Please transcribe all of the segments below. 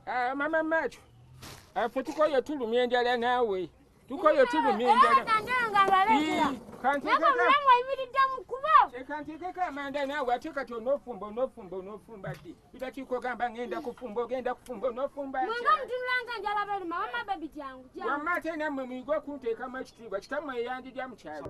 Ah, mama macho afe ah, tukoye tulumya enjala naawe tukoye tulumya enjalakantekeko amanda naawe ate kati onofumba onofumba onofumba ddi itakiko gamba ngenda kufumba ogenda kufumba onofumbaamma ate nammwe muyige okunteekamu ekitiibwa kitamu eyanjija mu kyalo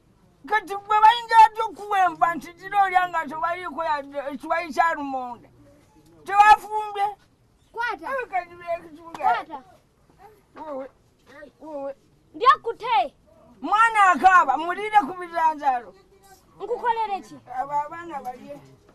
kati bwe bayinza atya okukuwemba nti kira olya nga tobaliiko ekiwayi kya lumonde tewafumbye ndyakute mwana akaaba mulire ku biranzalo nkukolere ki abo abaana balye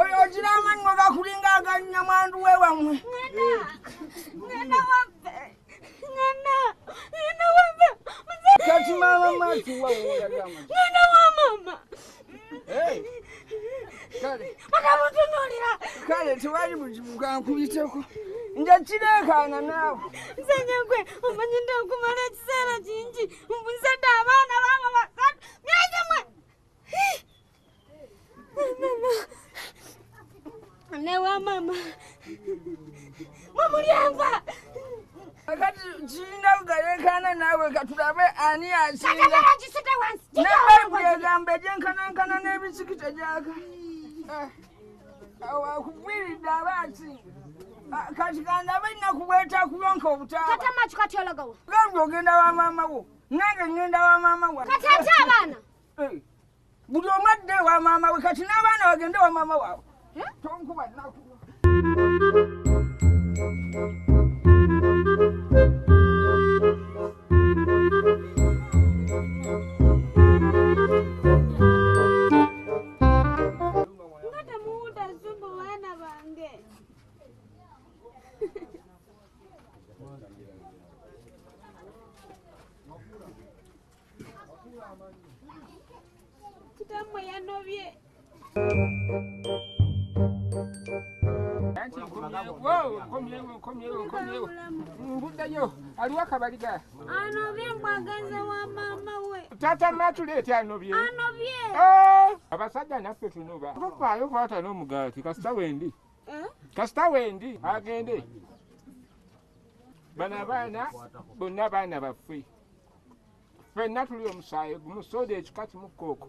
oyo ogira amannyo gakulinga aganyamwandu we wamwe kale tewali buzibu kankuyiteko nja kireekaana naawe nze nyagwe omanyi nti okumala ekiseera kingi mbuzadde abaana baaba basatu myezi mwe newa mama mwamulyamva akati kinda kugalekana nawe katulabe ani asinga nebayibuli egamba egyenkanankana n'ebisikita gyaka eh, awakugwiridde aba asinga ah, kati kandabe ennaku bwetakulonka obutaabagamba ogenda wa maama wo nange ngenda wa maama wa kati ate abaana eh. buli omu adde ewa maama we kati n'abaana bagende wa maama waabwe eh? tonkuba naku Kitambo yanobye. mbudayo aliwo akabaliga anobye mbwagaza wa maama we tata matuleeti anobye anobye eh, abasajja naffe tunoba tufaayo kwata n'omugaati kasita wendi eh? kasita wendi agende bano abaana bonna baana baffe fenna tuli omusaayi gumu soda ekika kimu kooko